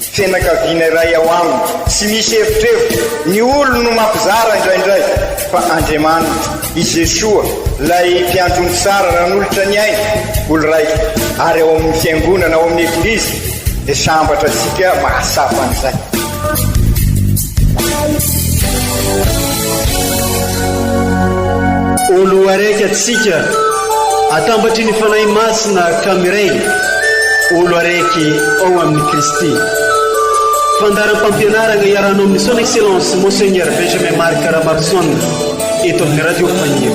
Fianakaviana iray ao aminy. Tsy misy evitrevitra, ny olony no mampizara indraindray, fa Andriamaniny, i Jesoa, ilay Mpiantrony Tsara nanolotra ny ainy ho lraika, ary ao amin'ny Fiangonana, ao amin'ny Eglizy, dia sambatra antsika mahasafa an'izay. Olo araiky atsika, atambatry ny Fanahy Masina ka miray, olo araiky ao amin'i Kristy. Fandaharam-pampianarana iarahanao amin'ny Son Excellence Monseigneur Benjamin Marc Ramaroson eto amin'ny Radio Faniry.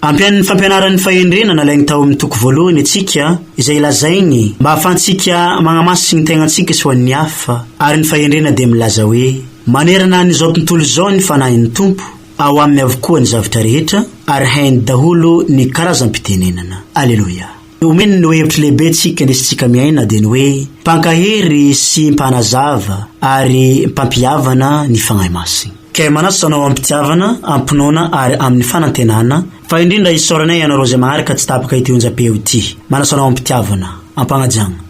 Ampian'ny fampianaran'ny fahendrena nalainy tao amin'ny toko voalohany antsika izay lazainy mba hahafahantsika magnamasiky ny tegnantsika sy ho an'ny hafa, ary ny fahendrena dia milaza hoe, Manerana an'izao tontolo izao ny Fanahin'ny Tompo, ao Aminy avokoa ny zavatra rehetra, ary hainy daholo ny karazam-pitenenana. Aleloia! Ny omeny ny hevitry lehibe tsika nisy tsika miaina dia ny hoe mpankahery sy mpanazava ary mpampihavana ny Fanahy Masina. Kay manasa anao amim-pitiavana, amim-pinoana ary amin'ny fanantenana fa indrindra isaoranay ianareo izay maharaka tsy tapaka ity onjam-peo ity. Manasa anao amim-pitiavana. Ampagnaja.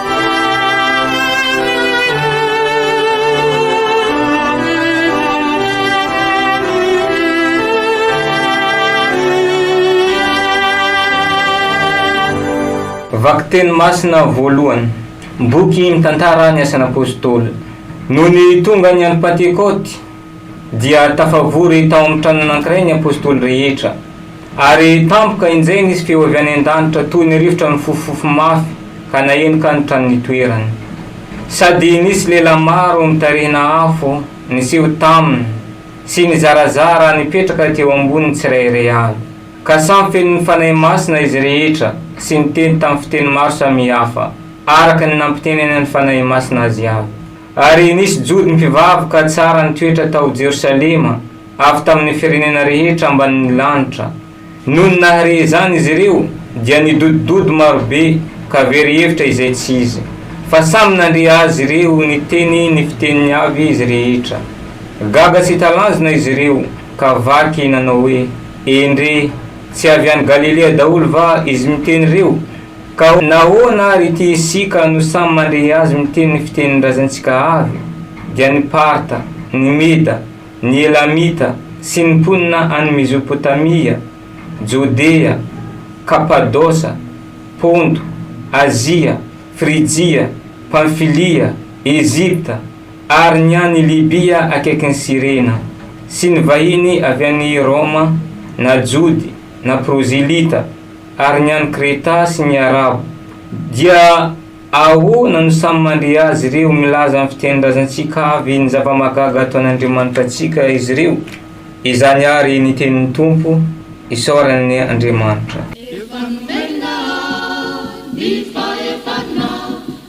Vakiteny masina voalohany. Boky mitantara ny asan'Apôstôly. Nony tonga ny andro Pantekôty. Dia tafavory tao amin'ny trano anankiray ny apostoly rehetra. Ary tampoka indray nisy feo avy any an-danitra toy ny rivotra nifofofofo mafy ka naheno ka ny trano nitoerany. Sady nisy lehilahy maro mitarihina afo niseho taminy sy nizarazara nipetraka teo amboniny tsirairay avy. Ka samy feno ny Fanahy Masina izy rehetra sy niteny tamin'ny fiteny maro samihafa araka ny nampitenenan'ny Fanahy Masina azy avy. Ary nisy jody mpivaroka tsara nitoetra tao Jerosalema, avy tamin' ny firenena rehetra ambanin' ny lanitra. Nony nahare izany izy ireo, dia nidodododo maro be, ka very hevitra izay tsy izy, fa samy nandre azy ireo niteny ny fiteniny avy izy rehetra. Gaga sy talanjona izy ireo, ka vaky nanao hoe, Endrey, tsy avy any Galilea daholo va izy miteny ireo? Ka nahoana ary ity isika no samy mandre azy miteny ny fitenin-drazantsika avy, dia ny Parta, ny Meda, ny Elamita, sy ny mponina any Mezopotamia, Jodea, Kapadosa, Ponto, Azia, Frijia, Pamfilia, Egypta, ary ny any Libia akaikin'i Sirena, sy ny vahiny avy any Roma, na Jody, na Prozilita, Ary ny any Kreta sy ny Arabo, dia ahoana no samy mandre azy ireo? Milaza amin'ny fitenin-drazantsika avy ny zava-mahagaga ataon'Andriamanitra antsika izy ireo. Izany àry ny tenin'ny Tompo, Isaorany Andriamanitra. Efa nomenao ny fahefana.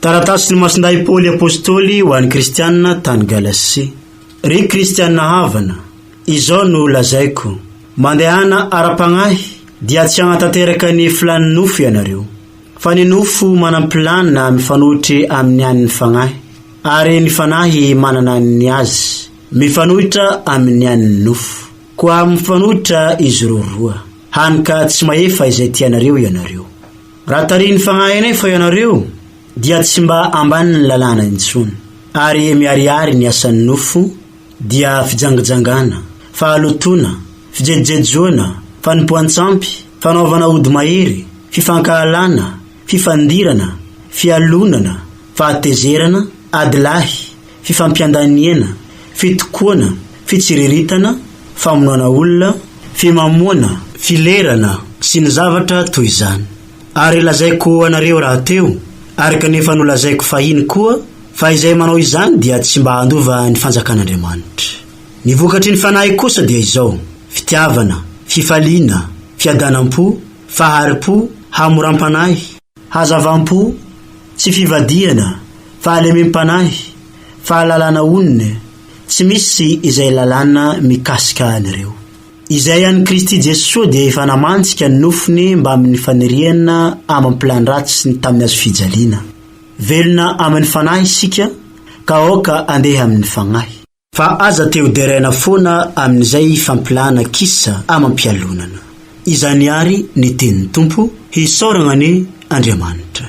Taratasin'ny Masindahy Paoly Apôstôly ho an'ny Kristianina tany Galasia. Ry Kristianina havana, izao no lazaiko, Mandehana ara-pagnahy, dia tsy hagnatanteraka ny filan'ny nofo ianareo. Fa ny nofo manam-pilany na mifanohitry amin'ny an'ny fagnahy, ary ny fanahy manana ny azy, mifanohitra amin'ny an'ny nofo. Koa mifanohitra izy roroa, hany ka tsy mahefa izay tianareo ianareo. Raha tarihin'ny Fanahy anay fa ianareo, dia tsy mba ambanin'ny lalàna intsony. Ary miharihary ny asan'ny nofo, dia fijangajangana, fahalotoana, fijejojejoana, fanompoan-tsampy, fanaovana ody mahery, fifankahalana, fifandirana, fialonana, fahatezerana, ady lahy, fifampiandaniana, fitokoana, fitsiriritana, famonoana olona, fimamoana, filerana sy ny zavatra toy izany, ary lazaiko ho anareo rahateo, araka ny efa nolazaiko fahiny koa, fa izay manao izany dia tsy mba handova ny fanjakan'Andriamanitra. Ny vokatry ny fanahy kosa dia izao, fitiavana, fifaliana, fiadanam-po, fahari-po, hamoram-panahy, Hazavam-po, tsy fivadihana, fahalemem-panahy, fahalalana onona, tsy misy izay lalàna mikasika an'ireo. Izay an'i Kristy Jesoa dia efa namantsika ny nofony mbamin'ny faniriana amam-pilan-dratsiny tamin'ny hazo fijaliana. Velona amin'ny Fanahy isika ka aoka andeha amin'ny Fagnahy. Fa aza te ho deraina foana amin'izay fampilahana kisa amam-pialonana. Izany àry ny tenin'ny Tompo, hisaoragna anie Andriamanitra.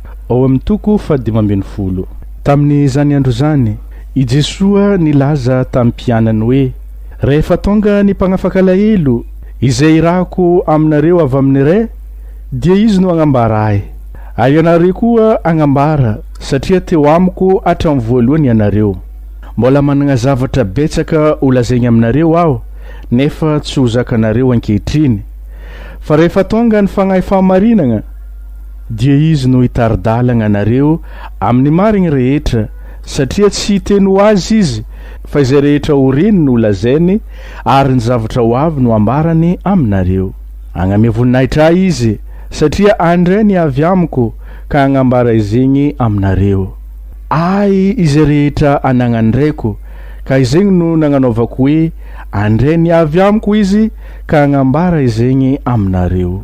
ao amin'ny toko fahadimy ambin'ny folo. Tamin'izany andro izany, i Jesoa nilaza tamin'ny mpianany hoe, Rehefa tonga ny mpanafaka alahelo, izay irahako aminareo avy amin'ny Ray, dia izy no hagnambara ahy, ary ianareo koa hagnambara, satria teo amiko hatramin'ny voalohany ianareo. Mbola manana zavatra betsaka holazainy aminareo aho, nefa tsy ho zakanareo ankehitriny. Fa rehefa tonga ny Fanahy Fahamarinana, Dia izy no hitari-dalagna anareo amin'ny marigny rehetra, satria tsy hiteny ho azy izy, fa izay rehetra ho reniny ho lazainy, ary ny zavatra ho avy no hambarany aminareo. Hagname voninahitra ahy izy, satria handray ny avy amiko ka hagnambara izegny aminareo. Ahy izay rehetra anagnan'ny Raiko, ka izegny no nagnanaovako hoe handray ny avy amiko izy ka hagnambara izegny aminareo.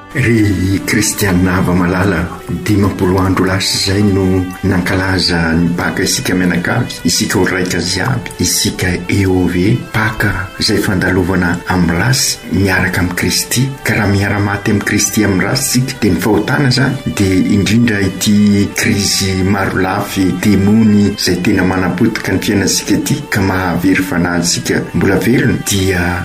Ry kristiana hava malala, dimampolo andro lasa izay no nankalaza ny Paka isika mianakavy, isika ho raika ziaby, isika EOV, Paka izay fandalovana am race miaraka am Kristy, ka raha miara maty am Kristy am race tsika dia ny fahotana izany dia indrindra ity krizy maro lafy demony izay tena manapotika ny fiainantsika ity ka mahavery fanahintsika mbola velona dia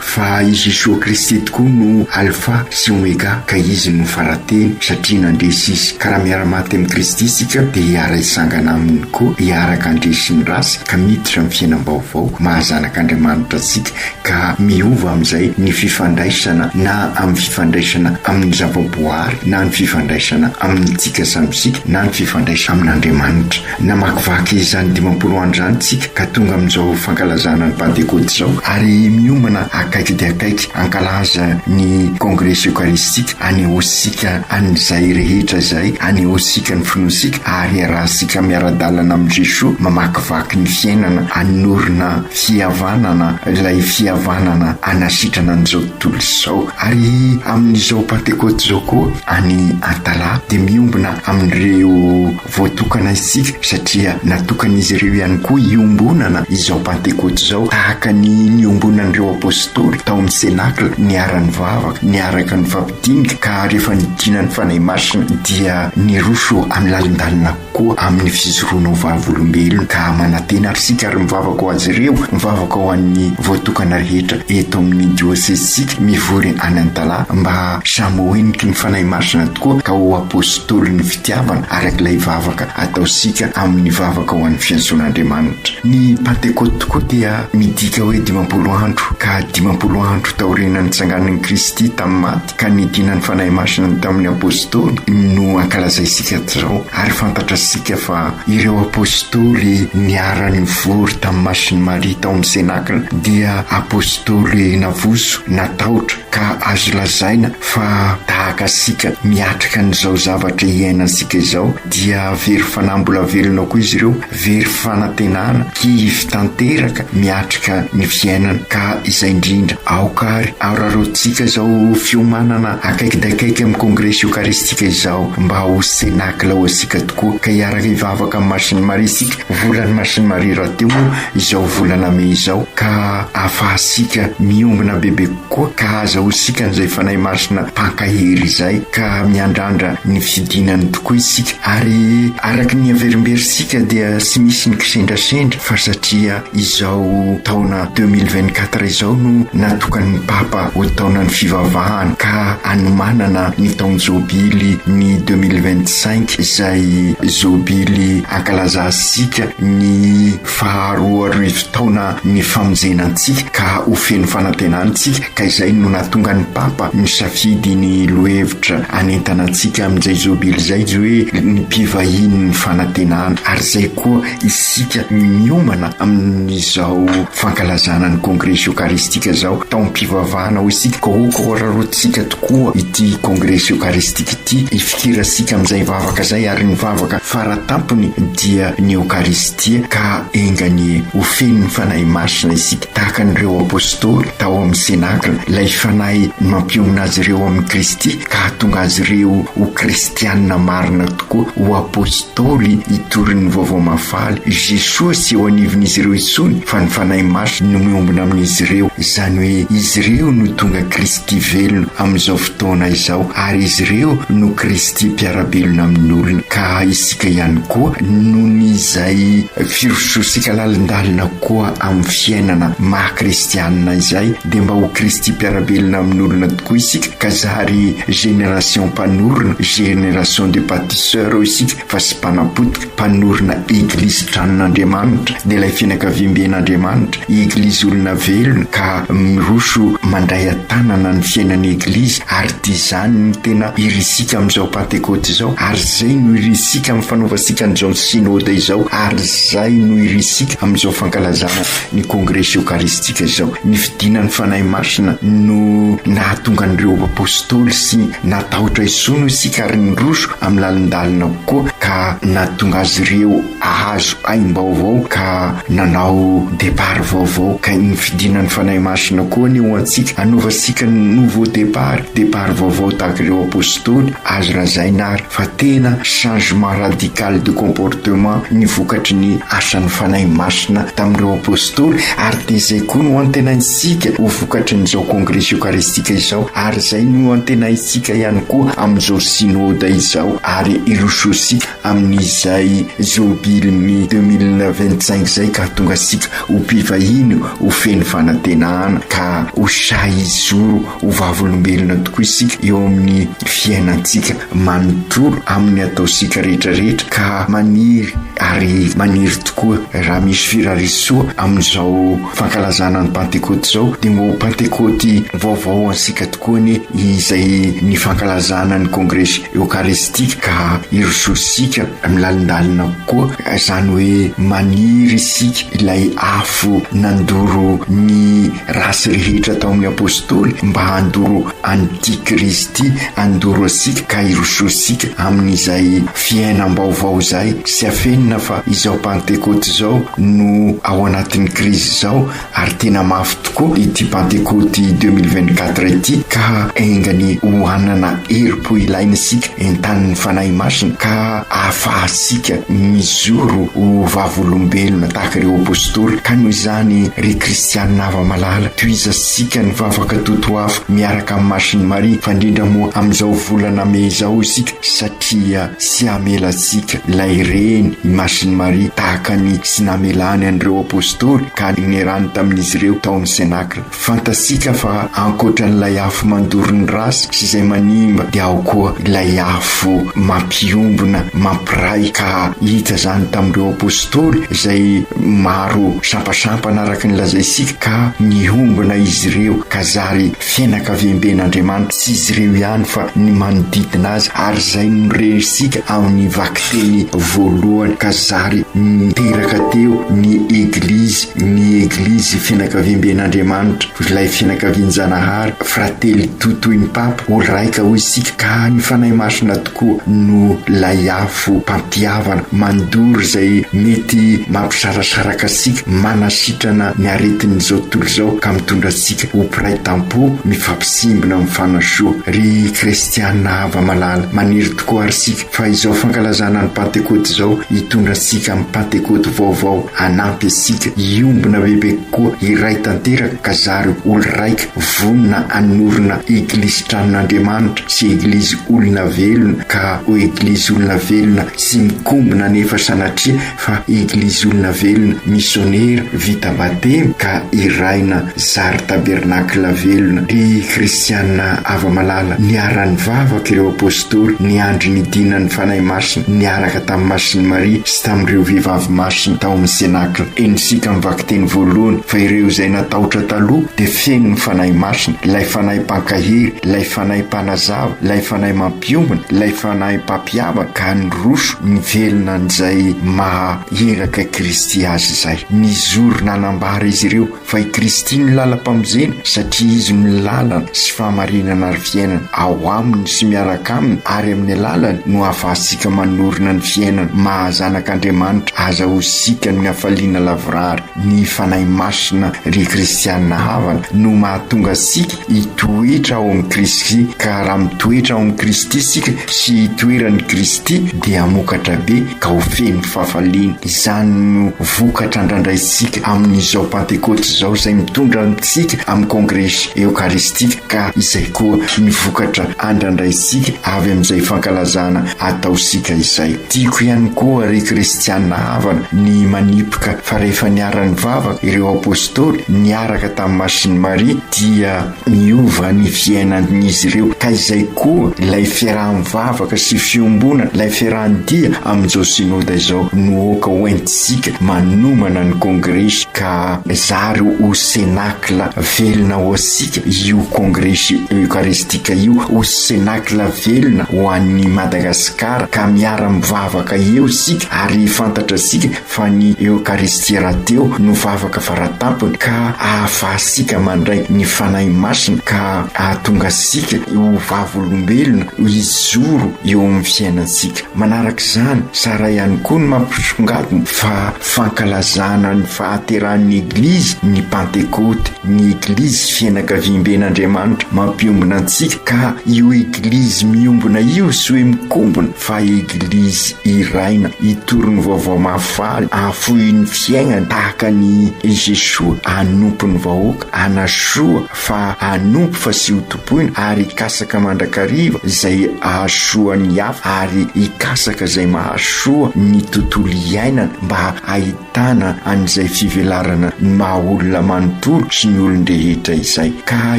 Fa i Jesoa Kristy tokoa no Alfa sy Omega ka Izy no Farateny satria nandresy Izy. Ka raha miara-maty amin'i Kristy isika dia hiara-hisangana Aminy koa hiaraka handresy sy mirasy ka miditra amin'ny fiainam-baovao maha zanak'Andriamanitra antsika ka miova amin'izay ny fifandraisana na amin'ny fifandraisana amin'ny zava-boahary na ny fifandraisana amintsika samy isika na ny fifandraisana amin'Andriamanitra. Namakivaky izany dimampolo andro izany isika ka tonga amin'izao fankalazana ny Pantekôty izao ary miombana akaiky dia akaiky hankalaza ny Kongresy Eokaristika hanehoantsika an'izay rehetra izay anehoantsika ny finoantsika ary hiarahantsika miara-dalana amin'i Jesoa mamakivaky ny fiainana hanorina fihavanana ilay fihavanana hanasitrana an'izao tontolo izao ary amin'izao Pantekôty izao koa any Antalaha dia miombona amin'ireo Voatokana isika satria natokan'izy ireo ihany koa hiombonana izao Pantekoty izao, tahaka ny niombonan'ireo apostoly tao amin'ny Senakla, niara-nivavaka, niaraka nifampidinika, ka rehefa nidina ny Fanahy Masina dia niroso amin'ny lalindalina koa amin'ny fijoroana ho vavolombelona. Ka manantena ary isika ary mivavaka ho azy ireo, mivavaka ho an'ny voatokana rehetra eto amin'ny diosezintsika mivory any Antalaha mba samy ho heniky ny Fanahy Masina tokoa ka ho apostolin' fitiavana araka ilay vavaka ataontsika amin'ny vavaka ho an'ny fiantsoan'Andriamanitra. Ny Pantekôty tokoa dia midika hoe dimampolo andro, ka dimampolo andro taoriana nitsanganan'i Kristy tamin'ny maty ka nidinan'ny Fanahy Masina ny tamin'ny Apôstôly no ankalazaintsika izao, ary fantatratsika fa ireo Apôstôly niara-nivory tamin'ny Masin'i Maria tao amin'ny Senakla dia Apôstôly navozo, natahotra, ka azo lazaina fa tahaka antsika miatrika an'izao zavatra iainantsika izao dia very fanahy mbola velona koa izy ireo, very fanantenana, kivy tanteraka miatrika ny fiainana ka izay indrindra aoka ary araroantsika izao fiomanana akaiky dia akaiky amin'ny kongresy eokaristika izao mba ho cenacle ho antsika tokoa ka hiaraka hivavaka amin'ny Masin'i Maria isika, volan'ny Masin'i Maria rahateo moa izao volana mey izao ka. afahantsika miombona bebe kokoa ka azahoantsika an'izay Fanahy Masina mpankahery izay ka miandrandra ny fidinany tokoa isika ary araka ny averimberintsika dia tsy misy ny kisendrasendra fa satria izao taona deux mille vingt quatre izao no natokan'ny Papa ho taonan'ny fivavahana ka anomanana ny taon-jobily ny deux mille vingt cinq izay zobily ankalazansika ny Fa roa arivo taona nifamonjena antsika ka ho feno fanantenana isika ka izay no nahatonga ny Papa nisafidy ny lohevitra hanentana antsika amin'izay Jobily izay izy hoe ny mpivahinin'ny fanantenana ary izay koa isika miomana amin'izao fankalazana ny Kongresy Eokaristika izao taom-pivavahana hoy isika ka aoka hoararoantsika tokoa ity Kongresy Eokaristika ity hifikirasika amin'izay vavaka izay ary ny vavaka faratampony dia ny Eokaristia Dia ka enga anie ho fenon'ny Fanahy Masina isika tahaka an'ireo Apostoly tao amin'ny Cenacla, ilay Fanahy mampionona azy ireo amin'i Kristy ka hahatonga azy ireo ho Kristianina marina tokoa, ho Apostoly hitorin'ny Vaovao Mahafaly. Jesoa tsy eo anivon'izy ireo intsony fa ny Fanahy Masina no miombona amin'izy ireo, izany hoe izy ireo no tonga Kristy velona amin'izao fotoana izao ary izy ireo no Kristy mpiara-belona amin'ny olona ka Dia ihany koa noho ny izay firososika lalindalina koa amin'ny fiainana maha kristianina izay dia mba ho Kristy mpiara-belona amin'olona tokoa isika ka zary génération mpanorina, génération de bâtisseurs hoy isika fa sy mpanapotika, mpanorina Eglizy tranon'Andriamanitra dia ilay fianakaviamben'Andriamanitra, Eglizy olona velona ka miroso mandray an-tanana ny fiainan'ny Eglizy ary. Dia izany no tena irisika amin'izao Pantekoty izao, ary izay no irisika amin'ny fanaovantsika an'izao Synode izao, ary izay no irisika amin'izao fankalazana ny Kongresy Eokaristika izao. Ny fidinan'ny Fanahy Masina no nahatonga an'ireo Apostoly sy natahotra isony hoy isika ary niroso amin'ny lalindalina koa ka nahatonga azy ireo hahazo aim-baovao ka nanao départ vaovao ka iny fidinan'ny Fanahy Masina koa anie ho antsika hanaovantsika nouveau départ, départ vaovao tahaka ireo Apostoly, azo lazaina ary fa tena changement radical de comportement ny vokatry ny asan'ny Fanahy Masina tamin'ireo Apostoly ary dia izay koa no antenaintsika ho vokatry ny izao Kongresy Eokaristika izao ary izay no antenaintsika ihany koa amin'izao Synode izao ary hirosoantsika amin'izay Jobily ny deux mille vingt cinq izay ka tonga sika ho mpivahiny ho feno fanantenana ka ho sahy hizoro ho vavolombelona tokoa isika eo amin'ny fiainantsika manontolo amin'ny ataontsika rehetra rehetra ka maniry ary maniry tokoa raha misy firarisoa amin'izao fankalazana ny pantekoty izao dia mba ho pantekoty vaovao antsika koa anie izay ny fankalazana ny kongresy eokaristika ka hirosoantsika milalindalina koa izany hoe maniry isika ilay afo nandoro ny ratsy rehetra tao amin'ny apostoly mba handoro an'ity kristy handoro antsika ka hirosoantsika amin'izay fiainam-baovao izay sy afenina fa izao pantekoty izao no ao anatin'ny krizy izao Ary tena mafy tokoa ity Pantekoty deux mille vingt quatre ity ka enga ny ho hanana herim-po ilaina isika entanin'ny Fanahy Masina ka ahafahantsika mizoro ho vavolombelona tahaka ireo Apostoly. Ka noho izany ry Kristianina hava-malala, tohizantsika ny vavaka totoafo miaraka amin'i Masin'i Maria fa indrindra moa amin'izao volana mey izao isika satria tsy hamela antsika ilay Reny i Masin'i Maria tahaka ny tsy namelany an'ireo Apostoly. ka ninerany tamin'izy ireo tao amin'ny Cénacle. Fantatsika fa ankoatran'ilay afo mandoro ny ratsy sy izay manimba dia ao koa ilay afo mampiombona, mampiray ka hita izany tamin'ireo Apostoly izay maro sampasampana araka ny lazaintsika ka nihombona izy ireo ka zary Fianakaviamben'Andriamanitra sy izy ireo ihany fa ny manodidina azy ary izay no renisika amin'ny vakiteny voalohany ka zary niteraka teo ny Eglizy, ny Eglizy fianakaviamben'Andriamanitra, ilay fianakavian-Janahary, Fratelli tutto in pape, ho raika hoy isika ka ny Fanahy Masina tokoa no lay afo. Foham-pampihavana mandoro izay mety mampisarasaraka sy manasitrana ny aretin'izao tontolo izao ka mitondra antsika ho mpiray tampo mifampisimbina amin'ny fanasoa. Ry kristiana hava-malala, maniry tokoa àry isika fa izao fankalazana ny Pantekoty izao hitondra antsika amin'ny Pantekoty vaovao hanampy antsika hiombona bebe kokoa iray tanteraka ka zary ho olo-raika vonona hanorina Eglisin-tranon'Andriamanitra. sy eglizy olona velona ka ho eglizy olona velona tsy mikombona anefa sanatria fa eglizy olona velona missionera vita batemy ka hiraina zary tabernakla velona ry kristiana ava malala niaran'ny vavaka ireo apostoly ny andry ny dinan'ny fanahy masina niaraka tamin'ny masin'i maria sy tamin'ireo vehivavy masina tao amin'ny senakla eny isika mivakiteny voalohany fa ireo izay natahotra taloha dia Feno ny Fanahy Masina, ilay Fanahy Mpankahery, ilay Fanahy Mpanazava, ilay Fanahy Mampiombona, ilay Fanahy Mpampihavana, ka niroso nivelona an'izay maha iraka Kristy azy izay. Nizoro nanambara izy ireo fa i Kristy no lalam-pamonjena, satria Izy no lalana sy fahamarinana ary fiainana. Ao Aminy sy miaraka Aminy ary amin'ny alalany no ahafahantsika manorina ny fiainana maha zanak'Andriamanitra aza ho sikan'ny hafaliana lavorary. Ny Fanahy Masina, ry kristiana havana, no mahatonga antsika hitoetra ao amin'i Kristy, ka raha mitoetra ao amin'i Kristy isika sy itoeran'i Kristy dia hamokatra be ka ho feno fahafaliana. Izany no vokatra andrandraintsika amin'izao Pantekoty izao izay mitondra antsika amin'ny kongresy eokaristika ka izay koa ny vokatra andrandraintsika avy amin'izay fankalazana Ataontsika izay. Tiako ihany koa, ry Kristiana havana, ny manipika fa rehefa niara-nivavaka ireo apostoly niaraka tamin'i Masin'i Maria, dia niova ny fiainan'izy ireo, ka izay koa ilay fiaraha-mivavaka sy fiombonana, ilay fiaraha-dia amin'izao Synoda izao no aoka hoentintsika manomana ny kongresy ka zary ho Cénacle velona ho antsika io kongresy eucharistique io, ho Cénacle velona ho an'ny Madagasikara ka miara mivavaka eo isika ary fantatra sika fa ny Eokaristia rahateo no vavaka faratampony ka ahafaha-sika mandray ny Fanahy Masina ka ahatonga sika ho vavolombelona hizoro eo amin'ny fiainantsika. Manaraka izany, tsara ihany koa ny mampisongadina fa fankalazana ny fahaterahan'ny Eglizy ny Pantekoty. ny Eglizy fianakaviamben'Andriamanitra mampiombona antsika ka io Eglizy miombona io sy hoe mikombona fa Eglizy iraina hitory ny vaovao mahafaly ahafoy ny fiainany tahaka ny i Jesoa hanompo ny vahoaka hanasoa fa hanompo fa sy hotompoina ary hikasaka mandrakariva izay ahasoa ny hafa ary hikasaka izay mahasoa ny tontolo iainana mba hahita Tana an'izay fivelarana ny maha olona manontolo sy ny olon-drehetra izay. Ka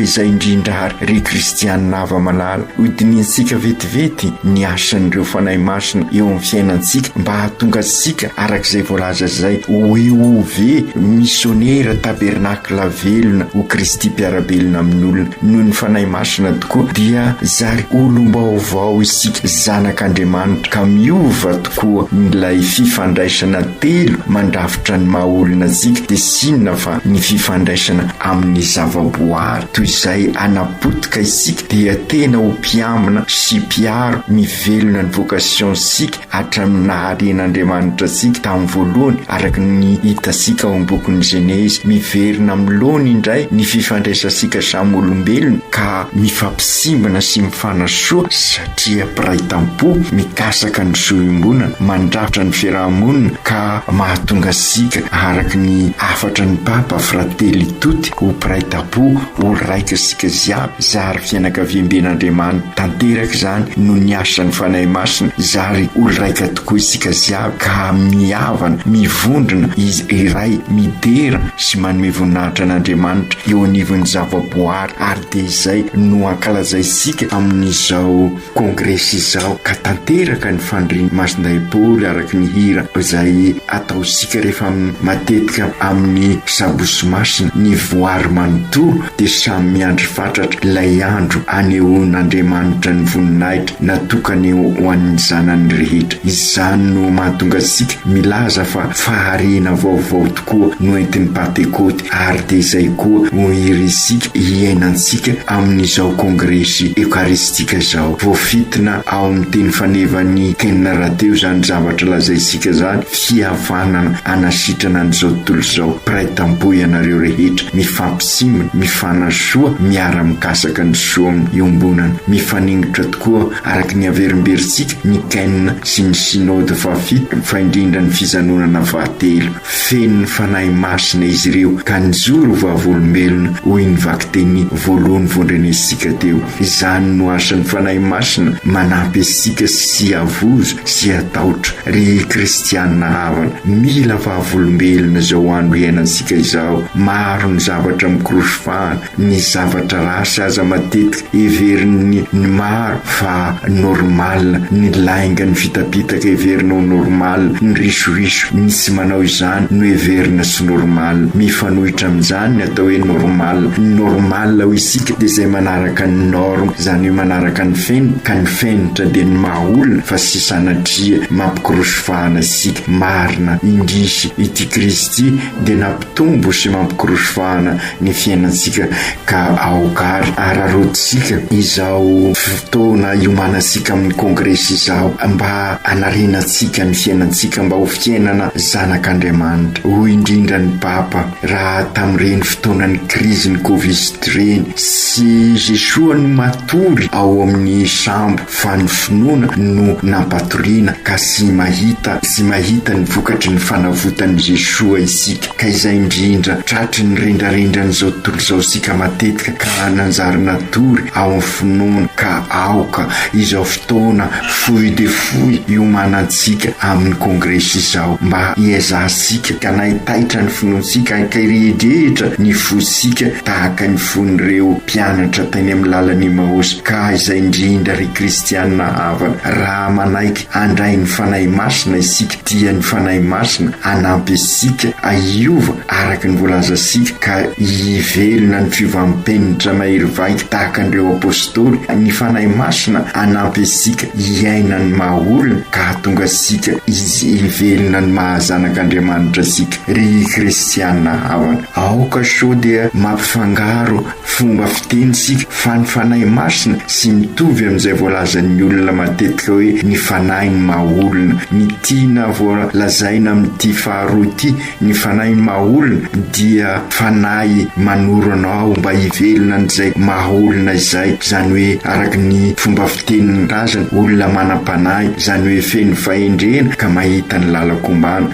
izay indrindra àry, ry kristiana hava-malala, hodinihintsika vetivety ny asan'ireo fanahy masina eo amin'ny fiainantsika mba hahatonga antsika, araka izay voalaza izay, ho EOV, misionera tabernakla velona ho Kristy mpiara-belona amin'olona. Noho ny fanahy masina tokoa dia zary olom-baovao isika, zanak'Andriamanitra, ka miova Koa milay fifandraisana telo mandrafitra ny maha olona antsika dia tsy inona fa ny fifandraisana amin'ny zavaboary. Toy izay hanapotika isika dia tena ho mpiambina sy mpiaro ny velona ny vocation sika hatramin'ny naharen'Andriamanitra antsika tamin'ny voalohany araka ny hitantsika ao am-bokin'ny Genezy. Miverina amin'ny laony indray ny fifandraisantsika samy olombelona ka mifampisimbana sy mifanasoa. dia mpiray tampo mikasaka ny zo iombonana mandrafitra ny fiaraha-monina ka mahatonga antsika araka ny hafatry ny Papa Fratelli Tutti ho mpiray tampo ho raika isika jiaby zary fianakaviamben'Andriamanitra tanteraka izany noho ny asan'ny Fanahy Masina zary olon-raika tokoa isika jiaby ka mihavana mivondrona izy iray midera sy manome voninahitra an'Andriamanitra eo anivon'ny zavaboary ary dia izay no ankalazaintsika amin'izao kongresy izao ka tanteraka ny fandrian'i Masindaibory araka ny hira izay ataontsika rehefa matetika amin'ny sabosy masina, ny voary manontolo dia samy miandry fatratra ilay andro anehoan'Andriamanitra ny voninahitra natokany ho an'ny zanany rehetra. Izany no mahatonga antsika milaza fa fahariana vaovao tokoa no entin'i Pantekôty. ary dia izay koa no irintsika hiainantsika amin'izao kongresy Eokaristika izao. Voafintina ao amin'ny teny fanevan'i Ken rahateo izany zavatra lazaintsika izany, fihavanana hanasitrana an'izao tontolo izao. Mpiray tampo ianareo rehetra, mifampisimbina, mifanasoa, miara-mikasaka ny soavin'ny iombonana. Mifaningotra tokoa araka ny haverimberintsika ny Ken sy ny Synode fahafito, fa indrindra ny fijanonana fahatelo. Feno ny Fanahy Masina izy ireo ka nijoro ho vavolombelona, hoy ny vakiteny voalohany vondrenesika teo. Izany no asan'ny Fanahy Masina, manampy antsika sy havozo sy hatahotra. Ry kristiana havana, mila vavolombelona izao andro iainantsika izao. Maro ny zavatra mikorosy fahana, Ny zavatra ratsy aza matetika heverin'ny ny maro fa normal ny lainga ny fitapitaka heverina ho normal ny risoiso ny tsy manao izany no heverina tsy normal mifanohitra amin'izany ny atao hoe normal ny normal ho isika dia izay manaraka ny norme izany hoe manaraka ny fenitra ka ny fenitra dia ny maha olona fa tsy sanatria mampikorosy fahana isika marina indrisy ity krizy ity dia Tombo sy mampikorosy vahana ny fiainantsika ka aoka ary araraotintsika izao fotoana iomanantsika amin'ny kongresy izao mba hanarenantsika ny fiainantsika mba ho fiainana zanak'Andriamanitra. Hoy indrindra ny Papa, Raha tamin'ireny fotoanan'ny krizin'ny Covid ireny, tsy Jesoa no matory ao amin'ny sambo, fa ny finoana no nampatoriana ka sy mahita sy mahita ny vokatry ny fanavotan'i Jeshoa isika ka izay indrindra tratry ny rendrarendran'izao tontolo izao isika matetika ka nanjary natory ao amin'ny finoana ka aoka izao fotoana fohy dia fohy iomanantsika amin'ny kongresy izao mba hiezahantsika ka naitaitra ny finoantsika ka hirehidrehitra ny fosika tahaka ny fon'ireo Mpianatra teny amin'ny lalan'i Emmaos ka aiza indrindra ry kristiana havana raha manaiky handray ny Fanahy Masina isika dia ny Fanahy Masina hanampy antsika ahiova araka ny voalazantsika ka hivelona ny fiovam-penitra mahery vaika tahaka an'ireo Apostoly, ny Fanahy Masina hanampy antsika hiaina ny maha olona ka hahatonga antsika izy hivelona ny maha zanak'Andriamanitra antsika ry kristiana havana. Aoka sao dia mampifangaro fomba fiteny isika fa ny Fanahy Masina sy mitovy amin'izay voalazan'ny olona matetika hoe ny Fanahy ny maha olona. Ny tiana voalazaina amin'ity faharoa ity, ny Fanahy ny maha olona, dia Fanahy manoro anao mba hivelona an'izay maha olona izay, izany hoe araka ny fomba fitenin'ny razany, olona manam-panahy, izany hoe feno fahendrena ka mahita ny lalan-kombàna.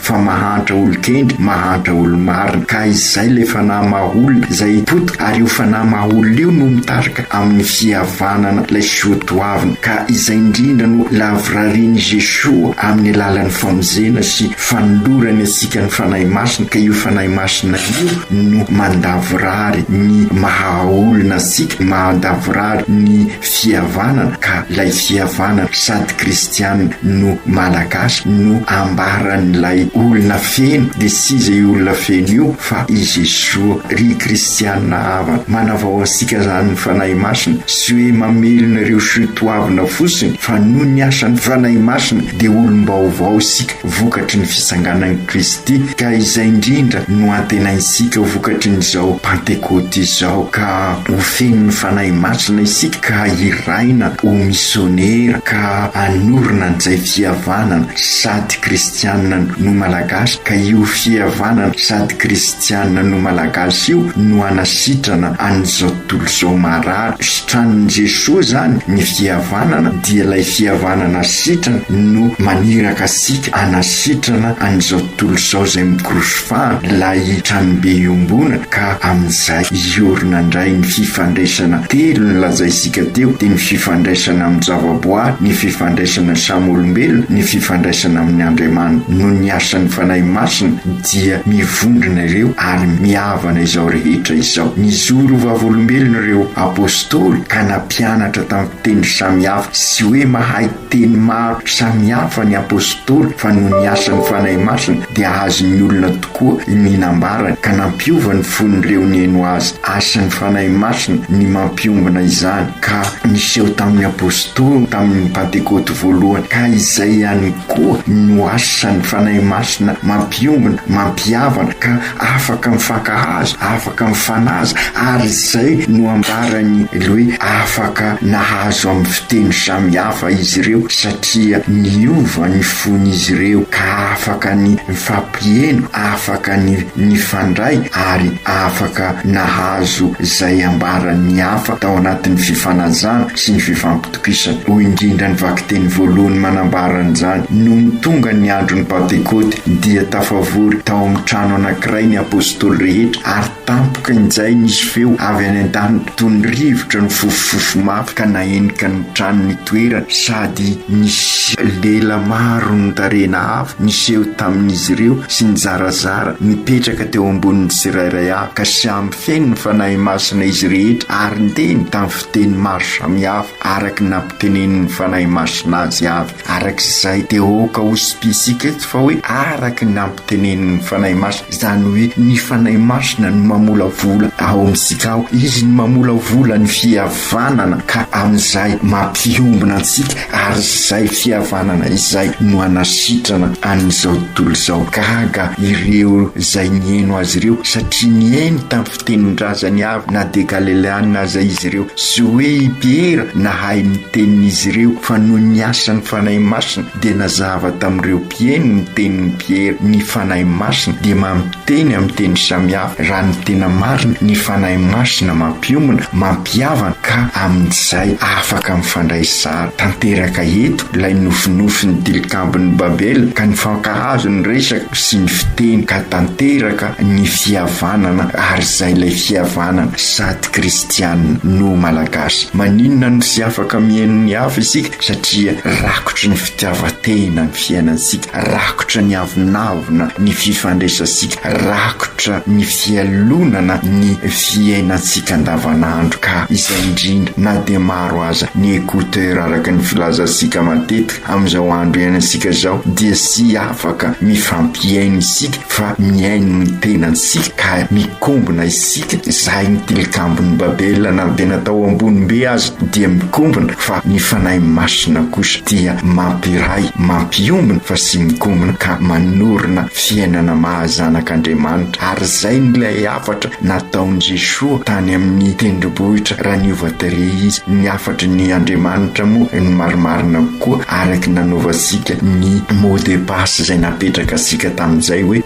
fa mahantra olon-kendry, mahantra olo-marina, ka izay ilay fanahy maha-olona izay hipotika, ary io fanahy maha-olona io no mitarika amin'ny fihavanana ilay soatoavina, ka izay indrindra no lavorarian'i Jesoa amin'ny alalan'ny famonjena sy fanolorany antsika ny Fanahy Masina, ka io Fanahy Masina io no mandavorary ny maha-olona antsika, mandavorary ny fihavanana ka ilay fihavanana sady kristiana no malagasy no ambaran'ilay olona feno dia tsy izy io olona feno io fa i Jesoa ry kristiana havana manavao antsika izany ny Fanahy Masina sy hoe mamelona ireo sotoavina fotsiny fa noho ny asan'ny Fanahy Masina dia olom-baovao isika vokatry ny fisanganan'i Kristy, ka izay indrindra no antenaintsika ho vokatry ny izao Pantekoty izao, ka ho fenon'ny Fanahy Masina isika ka hiraina ho misionera ka hanorina an'izay fihavanana sady kristianina no Malagasy, ka io fihavanana sady kristianina no Malagasy io no hanasitrana an'izao Tolozao marary sitranin'i Jesoa zany ny fihavanana dia ilay fihavanana sitrana no maniraka antsika hanasitrana an'izao tontolo izao izay mikorosy fano ilay tranobe iombonana ka amin'izay hiorina indray ny fifandraisana telo nolazaintsika teo dia ny fifandraisana amin'ny zavaboary ny fifandraisana samy olombelona ny fifandraisana amin'ny Andriamanitra noho ny asan'ny Fanahy Masina dia mivondrona ireo ary mihavana izao rehetra izao. Nizory ho vavolombelona ireo apostoly ka nampianatra tamin'ny fiteny samihafa. Tsy hoe mahay teny maro samihafa ny apostoly fa noho ny asan'ny Fanahy Masina dia azon'ny olona tokoa ny nambarany ka nampiova ny fon'ireo nihaino azy. Asan'ny Fanahy Masina ny mampiombona izany ka niseho tamin'ny apostoly tamin'ny Pantekoty voalohany ka izay ihany Koa no asan'ny Fanahy Masina mampiombona, mampihavana, ka afaka mifankahazo, afaka mifanaja, ary izay no ambaran'i Ly hoe afaka nahazo amin'ny fiteny samy hafa izy ireo satria niova ny fon'izy ireo ka afaka ny nifampiheno, afaka ny nifandray ary afaka nahazo izay ambaran'ny hafa tao anatin'ny fifanajana sy ny fifampiteny. Tokisana, hoy indrindra ny vakiteny voalohany manambara an'izany, Nony tonga ny andron'ny Pantekôty, dia tafavory tao amin'ny trano anankiray ny apostoly rehetra, ary tampoka injay nisy feo avy any an-danitra toy ny rivotra nifofofofo mafy ka nahenika ny trano nitoerany, sady nisy lela maro notarihina avo niseho tamin'izy ireo sy nizarazara nipetraka teo ambonin'ny tsirairay avy, ka samy feno ny Fanahy Masina izy rehetra ary niteny tamin'ny Teny maro samihafa araka ny nampitenenin'ny Fanahy Masina azy avy. Araka izay dia aoka ho sipisika eto fa hoe araka ny nampitenenin'ny Fanahy Masina, izany hoe ny Fanahy Masina no mamolavola ao amintsika ao. Izy no mamolavola ny fihavanana ka amin'izay mampiombona antsika ary izay fihavanana izay no hanasitrana an'izao tontolo izao. Gaga ireo izay nihaino azy ireo satria nihaino tamin'ny. tenin-drazany avy na dia Galileana aza izy ireo, sy hoe i Piera nahay ny tenin'izy ireo, fa noho ny asan'ny Fanahy Masina dia nazava tamin'ireo mpieno ny tenin'i Piera, ny Fanahy Masina dia mampiteny amin'ny teny samihafa, raha ny tena marina, ny Fanahy Masina mampiomana, mampihavana, ka amin'izay afaka mifandray tsara tanteraka eto ilay nofinofin'ny tilikambon'i Babela, ka nifankahazo ny resaka sy ny fiteny ka tanteraka ny fihavanana ary izay ilay fihavanana sady kristianina no malagasy maninona no tsy afaka mihaino ny hafa isika satria rakotry ny fitiavan-tena ny fiainantsika rakotra ny avonavona ny fifandraisantsika rakotra ny fialonana ny fiainantsika andavanandro ka izay indrindra na dia maro aza ny écouteur araka ny filazantsika matetika amin'izao andro iainantsika izao dia tsy afaka mifampihaino isika fa mihaino ny tenantsika ka mikombona isika zahay ny tilikambon'i babela na dia natao ambonim-be aza dia mikombona fa ny fanahy masina kosa dia mampiray mampiombona fa sy mikombona ka manorina fiainana mahazanak'andriamanitra ary izay n'ilay hafatra nataon'i jesoa tany amin'ny tendrombohitra raha niova tere izy ny hafatry ny andriamanitra moa ny marimarina koa araka ny nanaovantsika ny mode espace izay napetraka antsika tamin'izay hoe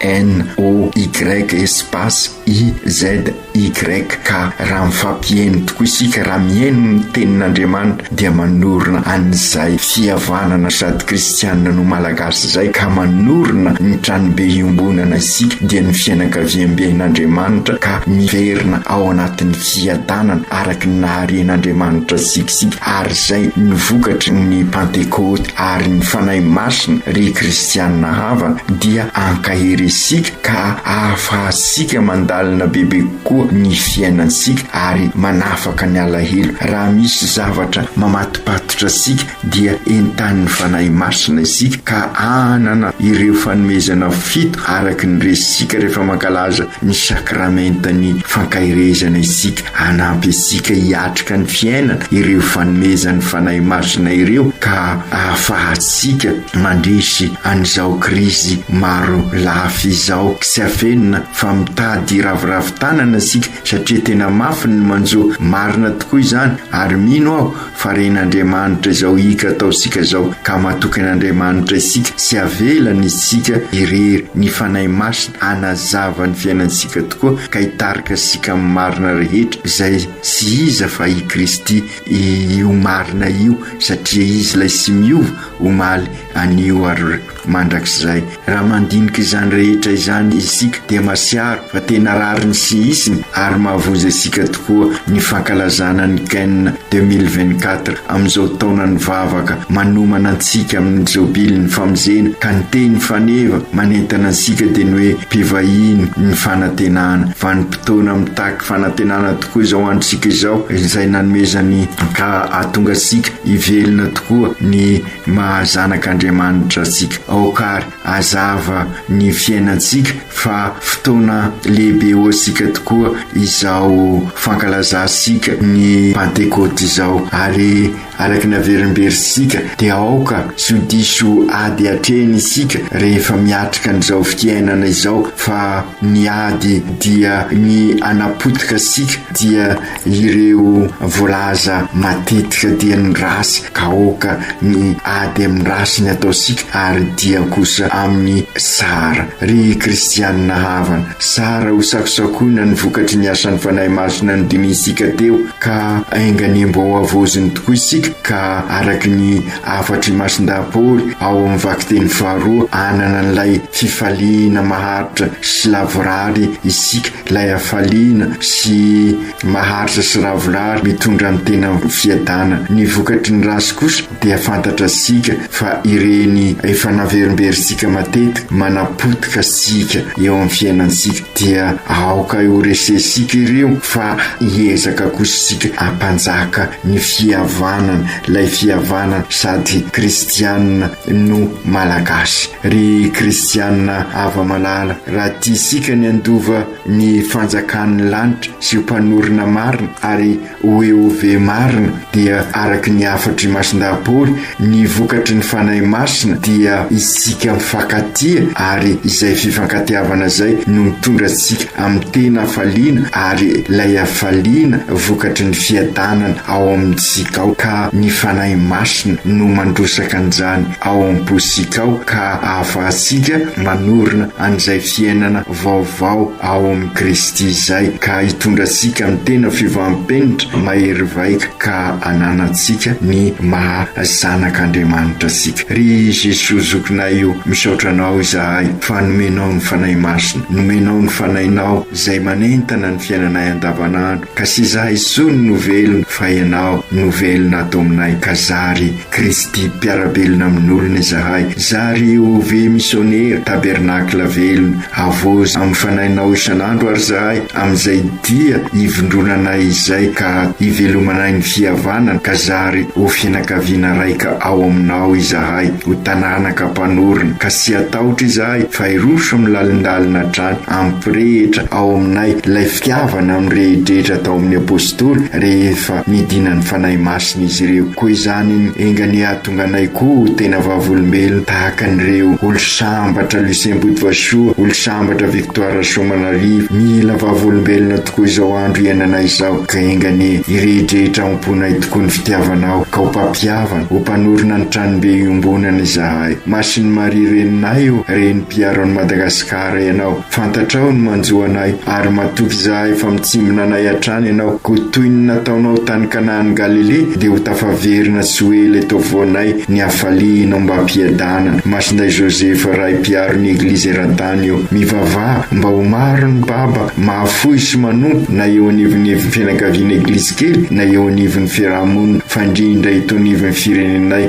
HENOY espace IZY ka raha mifampiheno tokoa isika raha miheno ny tenin'Andriamanitra dia manorina an'izay fihavanana sady kristianina no malagasy izay ka manorina ny tranobe iombonana isika dia ny fianakaviamben'Andriamanitra ka miverina ao anatin'ny fiadanana araka ny naharen'Andriamanitra antsika isika ary izay ny vokatry ny pantekoty ary ny Fanahy Masina, ry kristiana havana, dia ankahery isika ka ahafahantsika mandalina bebe kokoa ny fiainantsika ary manafaka ny alahelo. Raha misy zavatra mamatopatotra antsika dia entanin'ny Fanahy Masina isika ka hanana ireo fanomezana fito araka ny resintsika rehefa mankalaza ny sakramentan'ny fankaherezana isika. Hanampy antsika hiatrika ny fiainana ireo fanomezan'ny Fanahy Masina ireo ka ahafahantsika mandresy an'izao krizy maro lafy izao. Tsy afenina fa mitady hiraviravy tanana isika satria tena mafy ny manjo. Marina tokoa izany ary mino aho fa ren'Andriamanitra izao hika ataontsika izao ka matoky an'Andriamanitra isika sy havelany isika irery ny Fanahy Masina hanazava ny fiainantsika tokoa ka hitarika antsika amin'ny marina rehetra izay tsy iza fa i Kristy io marina io satria izy ilay tsy miova omaly anio ary Mandrakizay. Raha mandinika izany rehetra izany isika dia masiaro fa tena rariny sy hisiny ary mahavoza isika tokoa ny fankalazana ny Ken deux mille vingt quatre amin'izao taonan'ny vavaka manomana antsika amin'ny jobilin'ny famonjena ka ny teny faneva manentana antsika dia ny hoe mpivahiny ny fanantenana. Vanim-potoana mitaky fanantenana tokoa izao androntsika izao izay nanomezany ka hahatonga antsika hivelona tokoa ny Maha zanak' Andriamanitra antsika. Aoka àry hazava ny fiainantsika fa fotoana lehibe ho antsika tokoa izao fankalazantsika ny Pantekôty izao, ary araka ny averimberitsika dia aoka tsy ho diso ady hatrehina isika rehefa miatrika an'izao fiainana izao fa ny ady dia ny hanapotika antsika dia Ireo voalaza matetika dia ny race kaoka, ny ady amin'ny race ny atao sika ary dia kosa amin'ny Sahara. Ry kristianina havana, zara ho sakosakoina ny vokatry ny asan'ny Fanahy Masina nodinihintsika teo ka enganembo ao havaoziny tokoa isika ka araky ny hafatr'i Masindahy Paoly ao amin'ny vakiteny faharoa hanana an'ilay fifaliana maharitra sy lavorary isika Ilay hafaliana sy maharitra sy ravorary mitondra ny tena amin'ny fiadana ny vokatry ny ratsy kosa dia fantatratsika fa ireny efa naverimberintsika matetika manapotika antsika eo amin'ny fiainantsika dia aoka ho resentsika ireo fa hiezaka kosa isika hampanjaka ny fihavanana ilay fihavanana sady kristianina no malagasy. Ry kristiana hava-malala, raha tia isika ny handova ny fanjakan'ny lanitra sy ho mpanorina marina ary ho Eove marina, dia araka ny hafatr'i Masindahapôly, ny vokatry ny Fanahy Masina dia isika mifankatia ary izay fifankatiavana izay no mitondra antsika amin'ny tena hafaliana ary ilay hafaliana vokatry ny fiadanana ao amintsika ao ka ny Fanahy Masina no mandrosaka an'izany ao am-pontsika ao ka ahafahantsika manorina an'izay fiainana vaovao ao amin'i Kristy izay ka hitondra antsika amin'ny tena fivaham-penitra mahery vaika ka hananantsika ny maha zanak'Andriamanitra antsika. Ry Jesoa Zokinay o, misaotra Anao izahay fa nomenao ny Fanahy Masina, nomenao ny Fanahinao izay manentana ny fiainanay andavanandro ka tsy izahay intsony no velona fa Ianao no velona ato aminay ka zary Kristy mpiara-belona amin'olona izahay, zary ho ve misionera, tabernakla velona, avozo amin'ny Fanahinao isan'andro ary izahay, amin'izay dia hivondronanay izay ka hivelomanay ny fihavanana, ka zary ho fianakaviana raika ao Aminao izahay, ho taranaka mpanorina, ka tsy hatahotra izahay, fa hiroso amin'ny lalindalina hatrany hampirehitra ao aminay ilay fitiavana mirehidrehitra tao amin'ny Apostoly rehefa nidina ny Fanahy Masina izy ireo. Koa izany enga anie hahatonga anay koa ho tena vavolombelona tahaka an'ireo Olo Sambatra Lucien Botovasoa, Olo Sambatra Victoire Rasoamanarivo. Mila vavolombelona tokoa izao andro iainanay izao ka enga anie hirehidrehitra ao am-ponay tokoa ny fitiavanao ka ho mpampihavana, ho mpanorina ny Tranombe iombonana izahay. Masin'i Maria Reninay ô, Renim-piaro an'i Madagasikara ianao. Fantatrao ny manjo anay, ary matoky izahay fa mitsimbina anay hatrany ianao, koa toy ny nataonao tany Kanaan'i Galilea, dia ho tafaverina sy ho ela eto afovoanay ny hafalianao mba hampiadanana. Masindahy Joseph, Ray Mpiaro ny Eglizy eran-tany eo. Mivavaha mba ho maro ny baba mahafoy sy manompo na eo anivonivon'ny fianakaviana Eglizy kely na eo anivon'ny fiaraha-monina, fa indrindra eto anivon'ny firenenay.